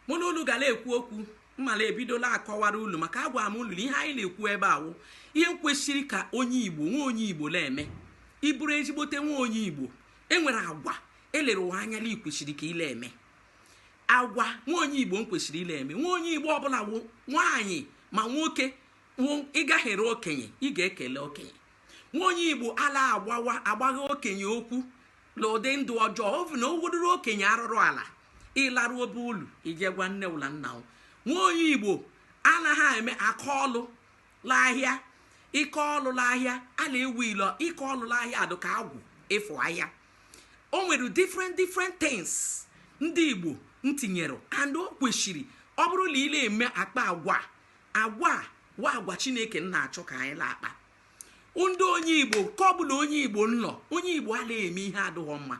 mụ na unu gala ekwu okwu m mala ebido la akọwara ulu maka agwa m ulu na ihe anyị na-ekwu ebe a wụ ihe nkwesịrị ka onye igbo nwa onye igbo na-eme ị bụrụ ezigbote nwa onye igbo enwere agwa elere wa anya na i kwesịrị ka ile eme agwa nwa onye igbo nkwesịrị ile eme nwa onye igbo ọbụla wụ nwaanyị ma nwoke wụ ị gahere okenye ị ga-ekele okenye nwa onye igbo ala agbawa agbagha okenye okwu na ụdị ndụ ọjọọ ọbụna o wodoro okenye arụrụ ala ị larụ obe ulu i je gwa nne ụ la nna o nwa onye igbo anaghị eme aka ọlụ la ahịa ike ọlụ la ahịa a na-ewu ilo ike ọlụ la ahịa adụ ka agwụ ịfụ ahịa o nwere different different things ndị igbo ntinyere and o kwesịrị ọ bụrụ na ị na-eme akpa agwa agwa wụ agwa chineke na-achọ ka anyị na-akpa and onye igbo nke ọbụla onye igbo nọ onye igbo alaa eme ihe adịghị mma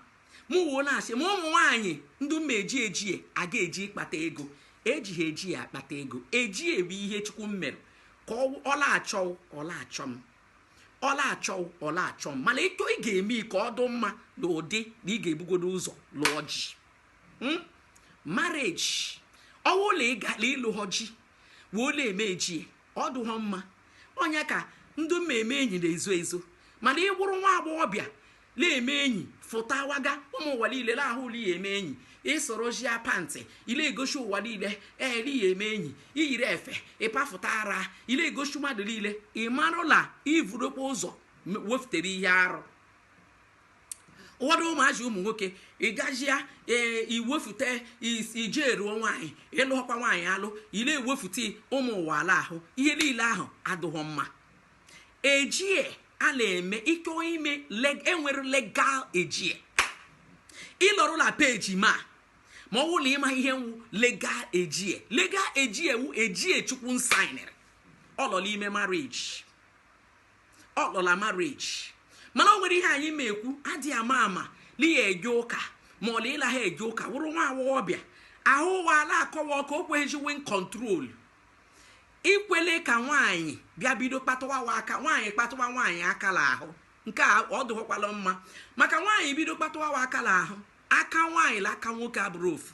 m wuo na-asị ma ụmụ nwaanyị ndị ma eji ejie aga eji ịkpata ego eji ha ejie akpata ego ejie bụ ihe chukwu mmere ka ọla achọ ọla achọ m ọla achọ ọla achọ m mana etu ị ga-eme ka ọ dụ mma na ụdị na ị ga-ebugodo ụzọ lụọ ji hmm? marriage ọ wụ ụlọ ịgala ị lụha ji wee la eme ejie ọ dụha mma onye ka ndụ mmemme enyi na-ezo ezo mana ị wụrụ nwa agbọghọbịa na-eme enyi fụtawaga ụmụ ụwa niile na-ahụ ụ la ị ya eme enyi ịsorozie pant ile egosi ụwa niile la ị ya eme enyi i yiri efe ị pafụta ara ile egosi mmadụ niile ị marụ la i vurukwa ụzọ wefụtere ihe arụ ụfọdụ ụmụazị ụmụ nwoke ịgajia ee iwefute ije eruo nwaanyị ị lụọkwa nwaanyị alụ ile ewefute ụmụ ụwa ala ahụ ihe niile ahụ adụghọ mma ejie a na-eme ị chọ ime leg- enwere legal ejie ị lọrụ na page m a ma ọ bụrụ na ịma ihe nwu legal ejie legal ejie wu ejie chukwu nsainere ọ lọ n'ime marriage ọ lọ la marriage mana o nwere ihe anyị ma ekwu adịghị ama ma na ị ya eje ụka ma ọ na ị laha eje ụka wụrụ nwa agbọghọbịa ahụ wa la akọ wọ ka o kweghịzi wi ncontrol Ikwele ka nwaanyị bịa bido kpatụwa wa aka nwaanyị kpatụwa nwaanyị aka la ahụ nke a ọ dụghọkwala mma maka nwaanyị bido kpatụwa wa aka la ahụ aka nwaanyị la aka nwoke abụrụ ofu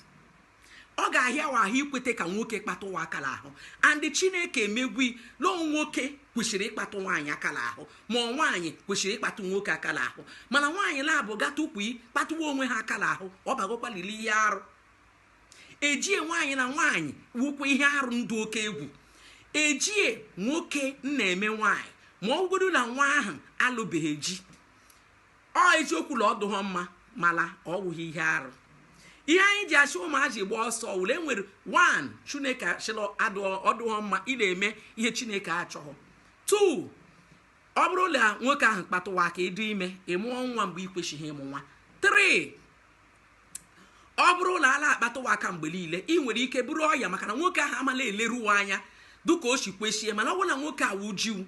ọ ga-ahịa wa ahụ ikweta ka nwoke kpatụ wa aka la ahụ and chineke emegwo la ọ nwoke kwesịrị ịkpatụ nwaanyị aka la ahụ ma ọ nwaanyị kwesịrị ịkpatụ nwoke aka la ahụ mana nwaanyị naabụ gata ukwu kpatụwa onwe ha aka la ahụ ọ bagwokwali li ihe arụ ejie nwaanyị na nwaanyị wukwa ihe arụ ndụ oke egwu ejie nwoke na-eme nwaanyị ma ọ bụgodu na nwa ahụ alụbeghị ji ọ eziokwu na ọ dụghọ mma mala ọ wụghị ihe arụ ihe anyị ji asị ụmụazị gbaa ọsọ wụ la nwere one chineke asịla ọ dụghọ mma ị na-eme ihe chineke achọghị two ọ bụrụ na nwoke ahụ kpatụwa aka ị dị ime ị mụọ nwa mgbe ị kwesịghị ịmụ nwa three ọ bụrụ na a la-akpatụwa aka mgbe niile ị nwere ike buru ọya maka na nwoke ahụ ama eleru anya dịka o si kwesi mana ọ bụrụ na nwoke a wụ ji wụ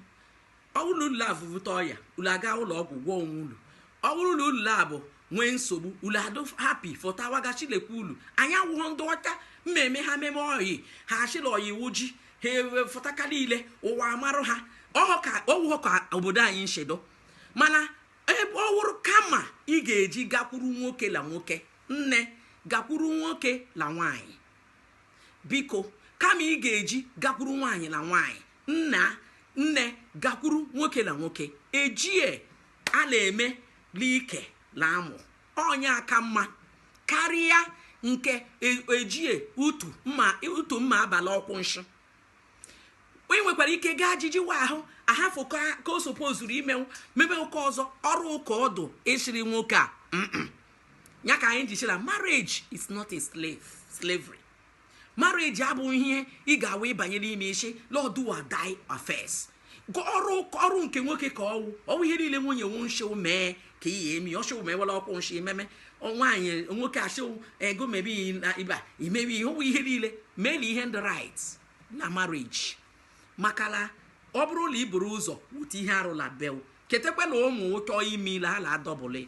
ọ bụrụ na ulu evuta ọya ulu aga ụlọ ọgwụ gwọọ onwe ulu ọ bụrụ na ulu a bụ nwee nsogbu ulu adụ hapi fọtawaga chilekwa ụlọ anyị awụghọ ndị ọcha mmemme ha meme oyi ha asịla ọya iwu ji ha ewefọta ka niile ụwa amarụ ha ọhụ ka ọ wụghọ ka obodo anyị nsi dụ mana ebe ọ wụrụ kama ị ga-eji gakwuru nwoke la nwoke nne gakwuru nwoke la nwaanyị biko kama ị ga-eji gakwuru nwaanyị la nwaanyị nna nne gakwuru nwoke la nwoke ejie a na-eme like la amụ onye a ka mma karịa nke e ejie utu mma utu mma abalị ọkwụ nshụ onye nwekwara ike gaa ajiji wa ahụ ahafụ ka o sopozuru imenwu mebe ụka ọzọ ọrụ ụka ọ dụ ị sịrị nwoke a ya ka anyị ji shị la marriage is not a slave slavery marriage abụghị ihe ị ga-awa ị banye n'ime ị sị la ọ do or die affairs ọrụ ọrụ nke nwoke ka ọ wụ ọ wụ ihe niile nwunye wụ nshị wụ mee ka ị eme ọ shị wụ mee wala ọkwụ nshị ememe nwaanyị nwoke ashị wụ ego mebi na iba imebi ihe ọ wụ ihe niile mee na ihe ndị right na marriage maka la ọ bụrụ na i buru ụzọ wute ihe arụ la bed ketekwa na ụmụ chọọ ime ile ha na-adọbụli